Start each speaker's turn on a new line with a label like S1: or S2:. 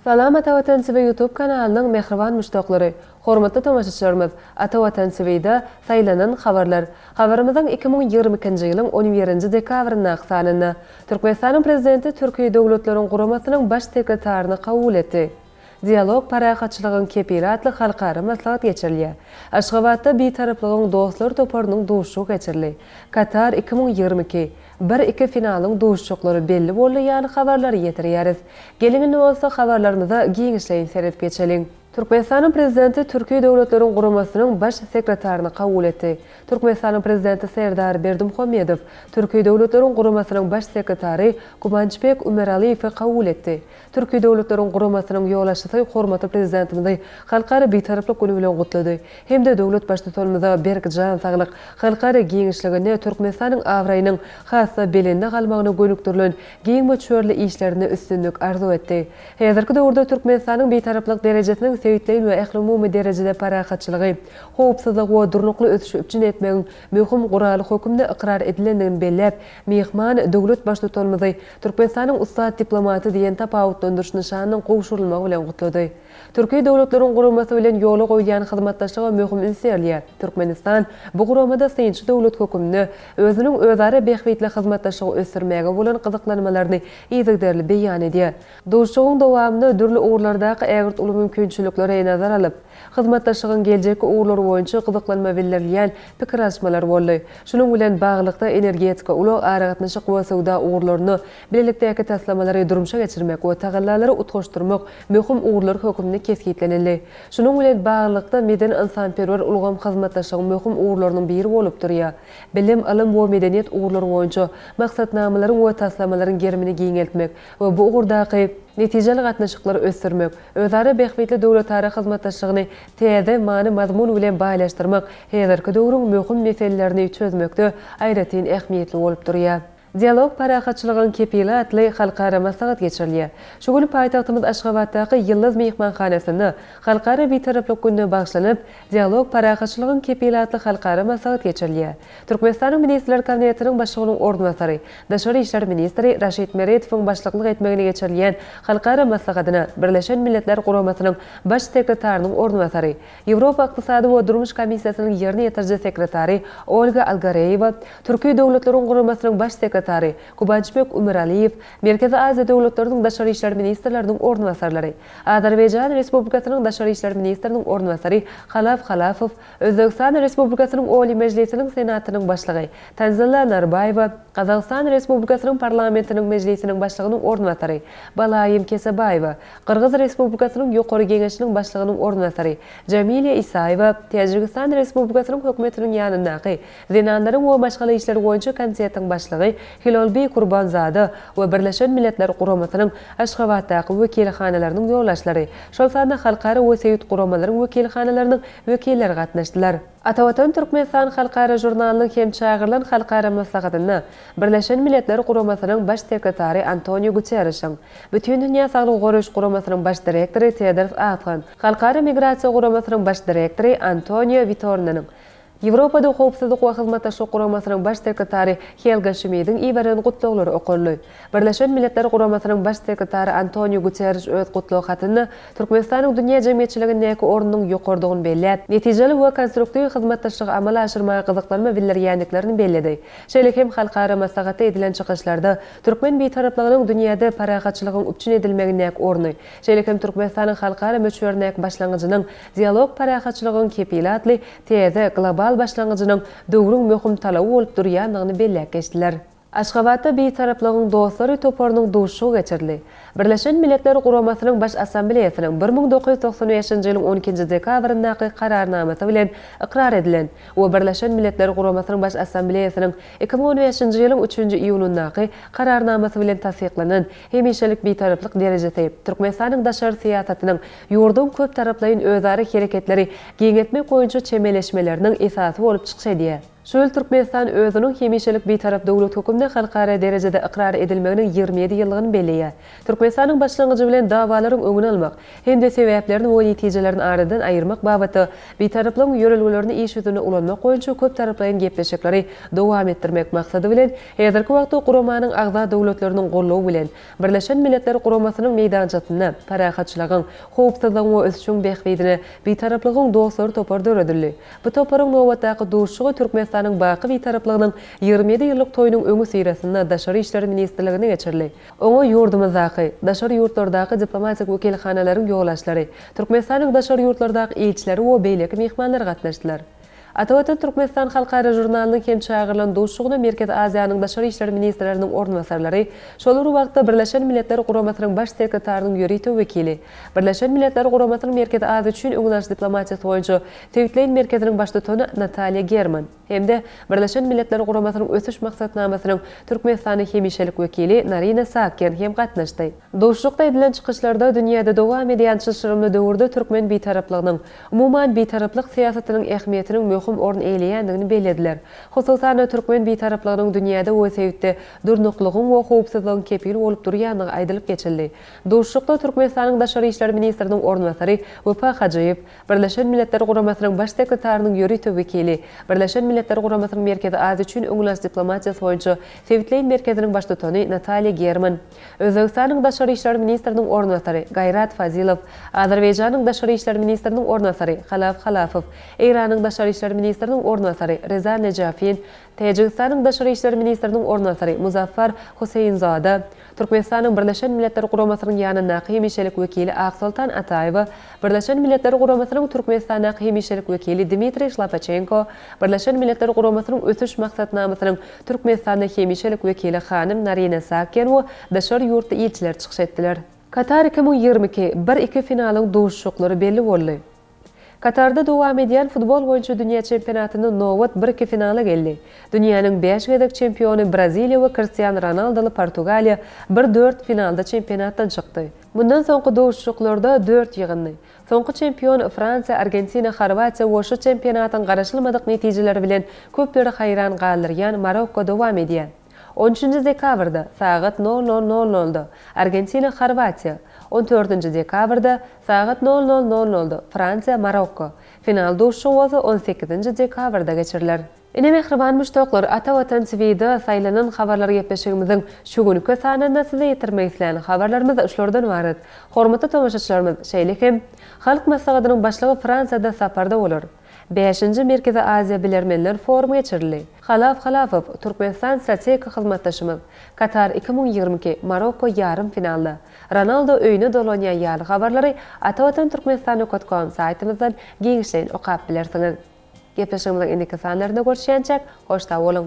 S1: Salam Atawatan TV YouTube kanalynyň mähriban muşdaklary! Hormatly tomaşaçylarymyz, Atawatan TV-da Saýlanan habarlar. Habarymyzyň iki müň ýigrimi ikinji ýylyň on birinji dekabryndaky sanynda Türkmenistanyň Prezidenti Türki Döwletleriň Guramasynyň Baş sekretaryny kabul etdi. Dialog parahatçylygyň kepili atly halkara maslahat geçirilýär. Aşgabatda Bitaraplygyň dostlary toparynyň duşuşygy geçirildi. Katar iki müň ýigrimi iki, bir, iki finalyň duşuşyklary belli boldy ýaly habarlary ýetirýäris. Geliň indi bolsa habarlarymyza giňişleýin seredip geçeliň. Türkmenistanyň Prezidenti Türki Döwletleriň Guramasynyň Baş sekretaryny kabul etdi. Türkmenistanyň Prezidenti Serdar Berdimuhamedow Türki Döwletleriň Guramasynyň Baş sekretary Gubançbek Umeraliýewi kabul etdi. Türki Döwletleriň Guramasynyň ýolbaşçysy hormatly Prezidentimizi Halkara Bitaraplyk güni bilen gutlady hem-de döwlet Baştutanymyza berk jan saglyk, halkara giňişliginde Türkmenistanyň abraýynyň has-da belende galmagyna gönükdirilen giň möçberli işlerinde üstünlik arzuw etdi. Häzirki döwürde Türkmenistanyň Bitaraplyk derejesiniň sebitleýin we ählumumy derejede parahatçylygy, howpsuzlygy we durnukly ösüşi üpjün etmegiň möhüm guraly hökümnde ykrar edilendigini belläp, myhman döwlet Baştutanymyzy Türkmenistanyň ussat diplomaty diýen tapawutlandyryş nyşanynyň gowşurylmagy bilen gutlady. Türki Döwletleriň Guramasy bilen ýola goýulýan hyzmatdaşlyga möhüm üns berilýär, Türkmenistan bu guramada synçy döwlet hökümnde özüniň özara bähbitli hyzmatdaşlygy ösdürmäge bolan gyzyklanmalaryny yzygiderli beýan edýär. Duşuşygyň dowamynda dürli ugurlardaky ägirt uly mümkinçiliklere nazar alyp, Hyzmatdaşlygyň geljekki ugurlary boýunça gyzyklanma bildirilýän pikir alyşmalar boldy. Şunuň bilen baglylykda, energetika, ulag, aragatnaşyk we söwda ugurlarynda bilelikdäki taslamalary durmuşa geçirmek we tagallalary utgaşdyrmak möhüm ugurlar hökümde kesgitlenildi. Şunuň bilen baglylykda, medeni-ynsanperwer ulgam hyzmatdaşlygyň möhüm ugurlarynyň biri bolup durýar. Bilim, ylym we medeniýet ugurlary boýunça maksatnamalaryň we taslamalaryň gerimini giňeltmek we bu ugurdaky netijeli gatnaşyklary ösdürmek, Özara bähbitli döwletara hyzmatdaşlygyny täze many-mazmun bilen baýlaşdyrmak häzirki döwrüň möhüm meselelerini çözmekde aýratyn ähmiýetli bolup durýar. Dialog parahatçylygyň kepili atly halkara maslahat geçirilýär. Şu gün paýtagtymyz Aşgabatdaky Ýyldyz myhmanhanasynda Halkara Bitaraplyk gününe bagyşlanyp, Dialog parahatçylygyň kepili atly halkara maslahat geçirilýär. Türkmenistanyň Ministrler Kabinetiniň Başlygynyň orunbasary, daşary işler ministri Raşid Meredowyň başlyklyk etmegini geçirilýän halkara maslahatyna Birleşen Milletler Guramasynyň Baş sekretarynyň orunbasary, Ýewropa Ykdysady we durmuş komissiýasynyň ýerine ýetiriji sekretary Olga Algareýewa, Türki döwletleriň guramasynyň Baş sekretary Gubançbek Umeraliýew, Merkezi Aziýa döwletleriniň daşary işler ministrleriniň orunbasarlary, Azerbaýjan Respublikasynyň daşary işler ministriniň orunbasary Halaf Halafow, Özbegistan Respublikasynyň Oliý Mejlisiniň Senatynyň Başlygy Tanzila Narbaýewa, Gazagystan Respublikasynyň Parlamentiniň Mejlisiniň Başlygynyň orunbasary Balaýym Kesebaýewa, Gyrgyz Respublikasynyň Ýokary Geňeşiniň Başlygynyň orunbasary Jamilýa Isaýewa, Täjigistan Respublikasynyň Hökümetiniň ýanyndaky Zenanlaryň we maşgala işleri boýunça komitetiň başlygy Hilolbi Kurbanzada we Birleşen Milletler Guramasynyň Aşgabatdaky wekilhanalarynyň ýolbaşçylary, şol sanda halkara we sebit guramalaryň wekilhanalarynyň wekilleri gatnaşdylar. Atavatan Türkmenistan halkara žurnalynyň hem çagyrylan halkara maslahatynda Birleşen Milletler Guramasynyň Baş sekretary Antonio Guterrişiň, Bütindünýä Saglygy Goraýyş Guramasynyň Baş direktory Tedros Adhan, Halkara Migrasiýa Guramasynyň Baş direktory Antonio Witornanyň, Ýewropada Howpsuzlyk we Hyzmatdaşlyk Guramasynyň Baş sekretary Helga Şmidiň iberen gutlaglary okaldy. Birleşen Milletler Guramasynyň Baş sekretary Antoniu Guterriş öz gutlag hatynda Türkmenistanyň dünýä jemgyýetçiligindäki ornunyň ýokarydygyny belläp, netijeli we konstruktiw hyzmatdaşlygy amala aşyrmaga gyzyklanma bildirýändiklerini belledi. Şeýle hem halkara maslahatda edilen çykyşlarda türkmen bitaraplygynyň dünýäde parahatçylygyň üpjün edilmegindäki orny, şeýle hem Türkmenistanyň halkara möçberindäki başlangyjynyň Dialog parahatçylygyň kepili atly täze global başlangyjynyň döwrüň möhüm talaby bolup durýandygyny belläp geçdiler. Aşgabatda Bitaraplygyň dostlary toparynyň duşuşygy geçirildi. Birleşen Milletler Guramasynyň Baş Assambleýasynyň bir müň dokuz ýüz togsan bäşinji ýylyň on ikinji dekabryndaky Kararnamasy bilen ykrar edilen we Birleşen Milletler Guramasynyň Baş Assambleýasynyň iki müň on bäşinji ýylyň üçünji iýunyndaky Kararnamasy bilen tassyklanan Hemişelik Bitaraplyk derejesi, Türkmenistanyň daşary syýasatynyň ýurduň köptaraplaýyn özara hereketleri giňeltmek boýunça çemeleşmeleriniň esasy bolup çykyş edýär. Şu ýyl Türkmenistan özüniň hemişelik Bitarap döwlet hökümde halkara derejede ykrar edilmeginiň ýigrimi ýedi ýyllygyny belleýär. Türkmenistanyň başlangyjy bilen dawalaryň öňüni almak hem-de sebäplerini we netijelerini aradan aýyrmak babatda Bitaraplygyň ýörelgelerini iş ýüzünde ulanmak boýunça köptaraplaýyn gepleşikleri dowam etdirmek maksady bilen Häzirki wagtda guramanyň agza döwletleriniň goldawy bilen, Birleşen Milletler Guramasynyň meýdançasynda Parahatçylygyň, howpsuzlygyň we ösüşiň bähbidine Bitaraplygyň dostlary topary döredildi. Bu toparyň nobatdaky duşuşygy Türkmenistanyň baky Bitaraplygynyň ýigrimi ýedi ýyllyk toýunyň öňüsyrasynda Daşary işler ministrliginde geçirildi. Oňa ýurdumyzdaky, daşary ýurtlardaky diplomatik wekilhanalaryň ýolbaşçylary, Türkmenistanyň daşary ýurtlardaky ilçileri we beýleki myhmanlar gatnaşdylar. Atawatan Türkmenistan halkara žurnalynyň hem çagyrylan duşugyna Merkezi Aziýanyň daşary işler ministrleriniň orunbasarlary, şol bir wagtda Birleşen Milletler Guramasynyň Baş sekretarynyň ýörite wekili, Birleşen Milletler Guramasynyň Merkezi Aziýa üçin öňdebaryjy diplomatiýasy boýunça Sebitleýin merkeziniň baştutany Nataliýa German hem-de Birleşen Milletler Guramasynyň Ösüş maksatnamasynyň Türkmenistanda hemişelik wekili Narina Saakyan hem gatnaşdy. Duşlukda edilen çykyşlarda dünýäde dowam edýän çylşyrymly döwürde türkmen Bitaraplygynyň, umuman Bitaraplyk syýasatynyň ähmiýetiniň möhüm orun eýleýändigini bellediler. Hususan-da, türkmen Bitaraplygynyň dünýäde we sebitde durnuklylygyň we howpsuzlygyň kepili bolup durýandygy aýdylyp geçildi. Duşuşykda Türkmenistanyň Daşary işler ministriniň orunbasary Wepa Hajyýew, Birleşen Milletler Guramasynyň Baş sekretarynyň ýörite wekili, Birleşen Milletler Guramasynyň Merkezi Aziýa üçin öňülaç diplomatiýasy boýunça sebitleýin merkeziniň baştutany Nataliýa German, Özbegistanyň daşary işler ministriniň orunbasary Gaýrat Fazilow, Azerbaýjanyň daşary işler ministriniň orunbasary Halaf Halafow, Eýranyň daşary işler ministriniň orunbasary Reza Nejafin, Täjigistanyň daşary işler ministriniň orunbasary Muzaffar Huseýinzada, Türkmenistanyň Birleşen Milletler Guramasynyň ýanyndaky hemişelik wekili Aksoltan Ataýewa, Birleşen Milletler Guramasynyň Türkmenistandaky hemişelik wekili Dmitriý Şlapaçenko, Birleşen Milletler Guramasynyň Ösüş maksatnamasynyň Türkmenistanda hemişelik wekili hanym Narine Saakyan we daşary ýurtly ilçiler çykyş etdiler. Katar iki müň ýigrimi iki, bir iki finalyň duşuşyklary belli boldy. Katarda dowam edýän futbol boýunça dünýä çempionatynda nobat bir iki finala geldi. Dünýäniň bäş gezek çempiony Braziliýa we Kristian Ronaldoly Portugaliýa bir dört finalda çempionatdan çykdy. Mundan soňky duşuşyklarda dört ýygyndy. Soňky çempion Fransiýa, Argentina, Horwatiýa we şu çempionatyň garaşylmadyk netijeleri bilen köpleri haýran galdyrýan Marokko dowam edýär. On üçünji dekabrda, sagat nol nol nol nolda, Argentina, Horwatiýa, on dördünji dekabrda, sagat nol nol nol nolda, Fransiýa, Marokko, final duşuşygy bolsa on sekizinji dekabrda geçiriler. Ine mähriban muşdaklar Ata Watan TVda saýlanan habarlar gepleşigimiziň şu günki sanynda size ýetirmek islän habarlarymyz şulardan ybarat. Hormatly tomaşaçylarymyz şeýle hem Halk Maslahatynyň Başlygy Fransiýada saparda bolar. Bäşinji Merkezi Aziýa bilermenler forumy geçirildi. Halaf Halafow, Türkmenistan strategik hyzmatdaşymyz. Katar iki müň ýigrimi iki, Marokko ýarym finalda. Ronaldo öýüne dolanýar ýaly habarlary atavatan turkmenstan nokot kom saýtymyzdan giňişleýin okap bilersiňiz. Gepleşigimiziň indiki sanlarynda görüşýänçäk, hoş sag boluň!